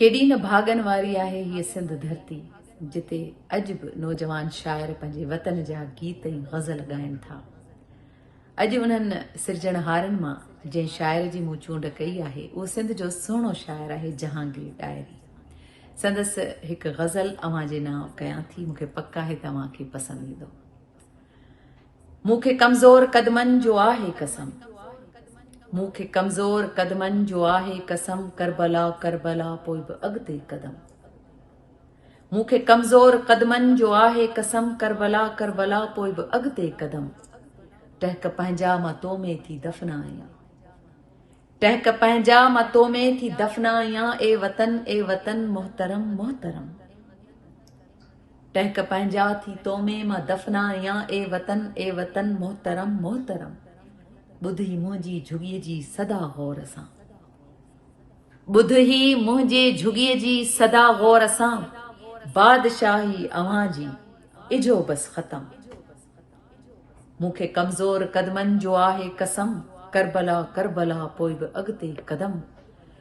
ڪيڏي نه ڀاڳن واري آهي هيء سنڌ ڌرتي، جتي اڄ به نوجوان شاعر پنهنجي وطن جا گيت ۽ غزل ڳائن ٿا. اڄ انهن سرجڻهارن مان جنهن شاعر جي مون چونڊ ڪئي آهي، اهو سنڌ جو سهڻو شاعر آهي جهانگير ڏاهري. سندس هڪ غزل اوهان جي نانء ڪيان ٿي، مون کي پڪ آهي ته اوهان کي پسند ايندو. مون کي ڪمزور قدمن جو آهي قسم مون کي ڪمزور قدمن جو آهي قسم ڪربلا ڪربلا پوء به اڳتي قدم مون کي ڪمزور قدمن جو آهي قسم ڪربلا ڪربلا پوء به اڳتي قدم ٽهڪ پنهنجا مان تو ۾ ٿي دفنا آهيان ٽهڪ پنهنجا مان تو ۾ ٿي دفنا آهيان اي وطن اي وطن محترم محترم ٽهڪ پنهنجا ٿي تو ۾ مان دفنايان اي وطن اي وطن محترم محترم ٻڌ هي منهنجي جهڳي جي صدا غور سان ٻڌ هي منهنجي جهڳي جي صدا غور سان بادشاهي اوهان جي اجهو بس ختم مون کي ڪمزور قدمن جو آهي قسم ڪربلا ڪربلا پوء به اڳتي قدم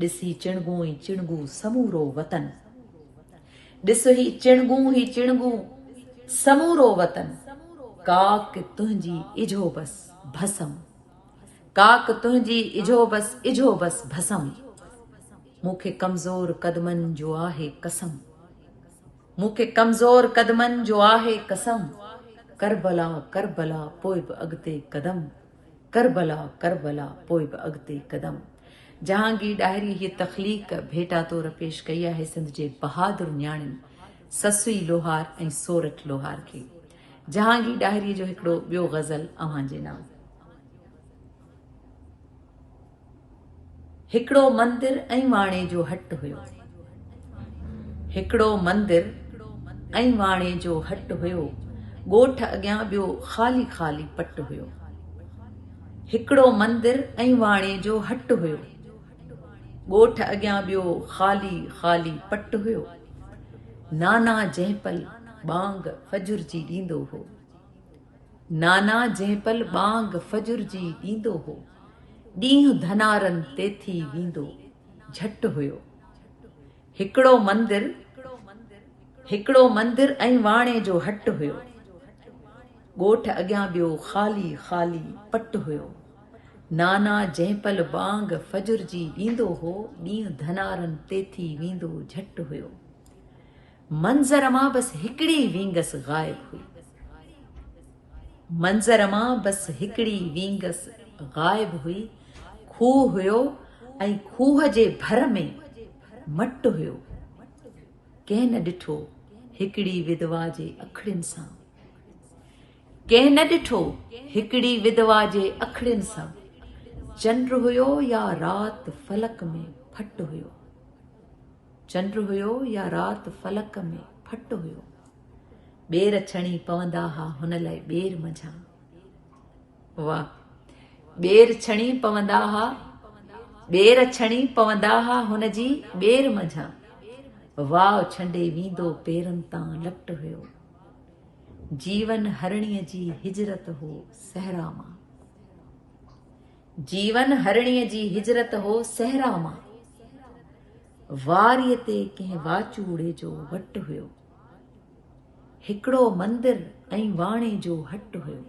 ڏسي چڻگون ۽ چڻگو سمورو وطن. ڏس هي چڻگون هي چڻگو سمورو وطن. ڪاڪ تنهنجي اجهو بس ڀسم. ڪاڪ تنهنجي اجهو بس اجهو بس ڀسم. مون کي ڪمزور قدمن جو آهي قسم. مون کي ڪمزور قدمن جو آهي قسم. ڪربلا ڪربلا پوء به اڳتي قدم. ڪربلا ڪربلا پوء به اڳتي قدم. جهانگير ڏاهري هيء تخليق ڀيٽا طور پيش ڪئي آهي سنڌ جي بهادر نياڻين سسئي لوهار ۽ سورٺ لوهار کي. جهانگير ڏاهري جو هڪڙو ٻيو غزل اوهان جي نام. هڪڙو مندر ۽ واڻي جو هٽ هيو. هڪڙو مندر ۽ واڻي جو هٽ هيو. ڳوٺ اڳيان ٻيو خالي خالي پٽ هيو. هڪڙو مندر ۽ واڻي جو هٽ هيو. ڳوٺ اڳيان ٻيو خالي خالي پٽ هيو. نانا جنهپل ٻانگ فجر جي ڏيندو هو. نانا جنهن پل ٻانگ فجر جي ڏيندو هو، ڏينهن ڌنارن تي ٿي ويندو جهٽ هيو. هڪڙو مندر، هڪڙو مندر ۽ واڻي جو هٽ هيو. ڳوٺ اڳيان ٻيو خالي خالي پٽ هيو. نانا جنهن پل ٻانگ فجر جي ڏيندو هو، ڏينهن ڌنارن تي ٿي ويندو جهٽ هيو. منظر مان بس هڪڙي وينگس غائب هئي. منظر مان بس هڪڙي وينگس غائب هئي. کوهه هيو ۽ کوهه جي ڀر ۾ مٽ هيو. ڪنهن نه ڏٺو هڪڙي ودوا جي اکڙين سان. ڪنهن نه ڏٺو هڪڙي ودوا جي اکڙين سان. چنڊ هيو يا رات فلڪ ۾ ڦٽ هيو. چنڊ هيو يا رات فلڪ ۾ ڦٽ هيو ٻير ڇڻي پوندا ها هن لاء ٻير منجهان واهه ٻير ڇڻي پوندا ها ٻير ڇڻي پوندا ها هن جي ٻير منجهان واو ڇنڊي ويندو پيرن تان لٽ هيو جيون هرڻي جي هجرت هو صحرا مان جيون هرڻي جي هجرت هو صحرا مان واريء تي ڪنهن واچوڙي جو وٽ هيو. هڪڙو مندر ۽ واڻي جو هٽ هيو.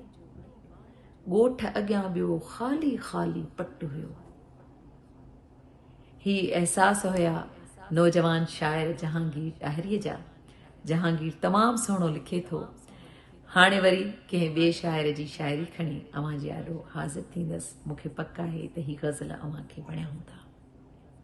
ڳوٺ اڳيان ٻيو خالي خالي پٽ هيو. هي احساس هيا نوجوان شاعر جهانگير ڏاهريء جا. جهانگير تمام سهڻو لکي ٿو. هاڻي وري ڪنهن ٻئي شاعر جي شاعري کڻي اوهان جي آڏو حاضر ٿيندس. مون کي پڪ آهي ته هي غزل اوهان کي وڻيا هوندا.